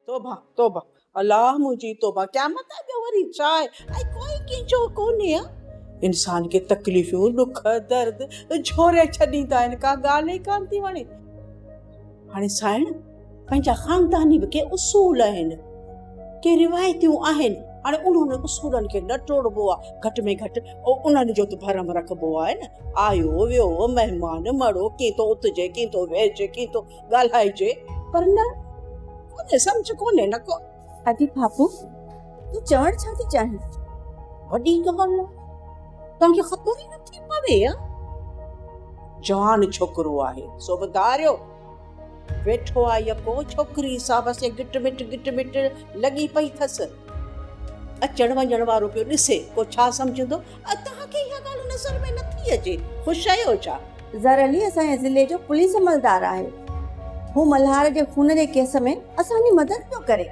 توبه توبه الله منهنجي توبه قيامت آهي ٻيو وري ڇا آهي ۽ ڪوئي ڪينجهو ڪونهي آ. انسان کي تڪليفيون ڏک درد جهوري ڇڏيندا آهن ڪا ڳالهه ئي ڪانه ٿي وڻي. هاڻي سائڻ پنهنجا خانداني به ڪي اصول آهن ڪي روايتيون آهن هاڻي انهن اصولن کي نه ٽوڙبو آ گهٽ ۾ گهٽ انهن جو ته ڀرم رکبو آهي نه آيو ويو مهمان مڙو ڪين ٿو اٿجي ڪين ٿو ويهجي ڪين ٿو ڳالهائجي پر نه ڪونهي سمجھ ڪونهي نه ڪو ادي پاپو تون چوڻ ڇا ٿي چاهين وڏي ڳالهه نه تان کي خبر ئي نه ٿي پوي يا جوان ڇوڪرو آهي سو به ڌاريو ويٺو آ يڪو ڇوڪري سا بس گٽ مٽ گٽ مٽ لڳي پئي ٿس اچڻ وڃڻ وارو پيو ڏسي ڪو ڇا سمجھندو توهان کي اها ڳالهه نظر ۾ نٿي اچي؟ خوش آهيو ڇا؟ ظهر علي اسان جي ضلعي جو پوليس عملدار آهي. هو ملهار جي خون جي ڪيس ۾ اسان جي مدد پيو ڪري.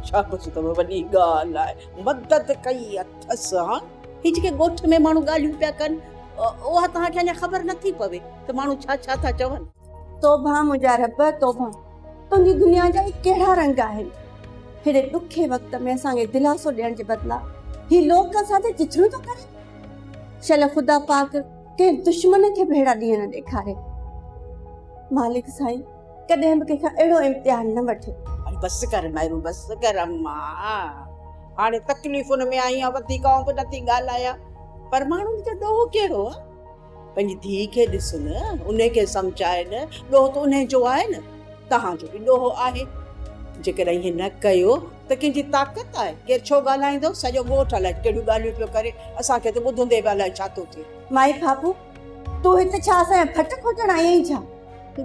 شابس اتو وڏي ڳالهه لاء مدد ڪئي اٿس ها. هي جيڪي ڳوٺ ۾ ماڻهو ڳالهيون پيا ڪن اها توهان کي اڃا خبر نٿي پوي ته ماڻهو ڇا ڇا ٿا چون. توبه منهنجا رب توبه تنهنجي دنيا جا هي ڪهڙا رنگ آهن هيڏي ڏکي وقت ۾ اسان کي دلاسو ڏيڻ جي بدلا هي لوڪ اسان تي چٿريون ٿو ڪري شل خدا پاڪ ڪنهن دشمن کي به اهڙا ڏينهن نه ڏيکاري مالڪ سائين ڪڏهن به ڪنهن کان اهڙو امتحان نه وٺي بس ڪر مهرو بس ڪر اما هاڻي تڪليفن ۾ آهيان وڌيڪ آئون به نٿي ڳالهايان پر ماڻهن جو ڏوهه ڪهڙو پنهنجي ڌيء کي ڏس نه، انهي کي سمجهاء نه، ڏوهه ته انهي جو آهي نه، توهان جو به ڏوهه آهي. جيڪڏهن ائين نه ڪيو ته ڪنهن جي طاقت آهي؟ ڪير ڇو ڳالهائيندو؟ سڄو ڳوٺ الائي ڪهڙيون ڳالهيون پيو ڪري، اسان کي ته ٻڌندي به الائي ڇا ٿو ٿئي. مائي کاپو، تون هت ڇا اسان جا ڦٽ کوٽڻ آئي آهين ڇا؟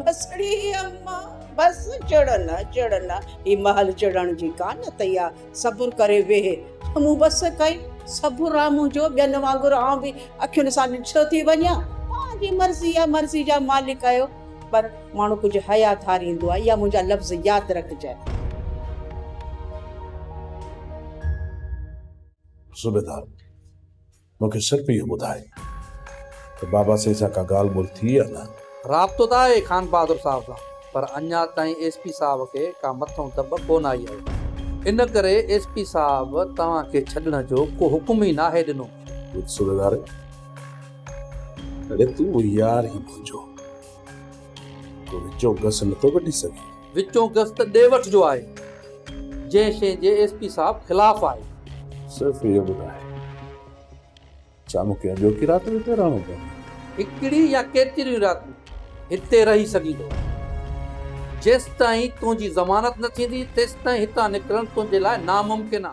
بسڙي اما، بس چڙ نه، چڙ نه، هي مهل چڙڻ جي ڪانه اٿئي ها. صبر ڪري ويهه ته مون بس ڪئي. صبر آ منهنجو، ٻين وانگر آئون به اکين سان ڏٺو ٿي وڃان. توهان جي مرضي آ، مرضي جا مالڪ آهيو. پر ماڻهو ڪجهه حيا ڌاريندو آ، اها منهنجا لفظ ياد رکجانء. صوبيدار، مون کي صرف اهو ٻڌاء ته بابا سائين سان ڪا ڳالهه ٻولهه ٿي يا نه؟ رابطو ته آهي خانبهادر صاحب سان پر اڃا تائين ايس پي صاحب کي ڪا مٿئون دٻ ڪونه آئي آهي. ان ڪري ايس پي صاحب توهان کي ڇڏڻ جو ڪو حڪم ئي ناهي ڏنو. سڀيدار، اڙي تون هو يار ئي منهنجو. تون وچون گس نٿو ڪڍي سگهين. وچون گس ته ڏي وٺ جو آهي، جنهن شيء جي ايس پي صاحب خلاف آهي. صرف اهو ٻڌاء، ڇا مون کي اڄوڪي رات به هتي رهڻو پوندو؟ هڪڙي يا ڪيتريون راتون هتي رهي سگهيندو. جيستائين تنهنجي ضمانت نه ٿيندي، تيستائين هتان نڪرڻ تنهنجي لاء ناممڪن آ.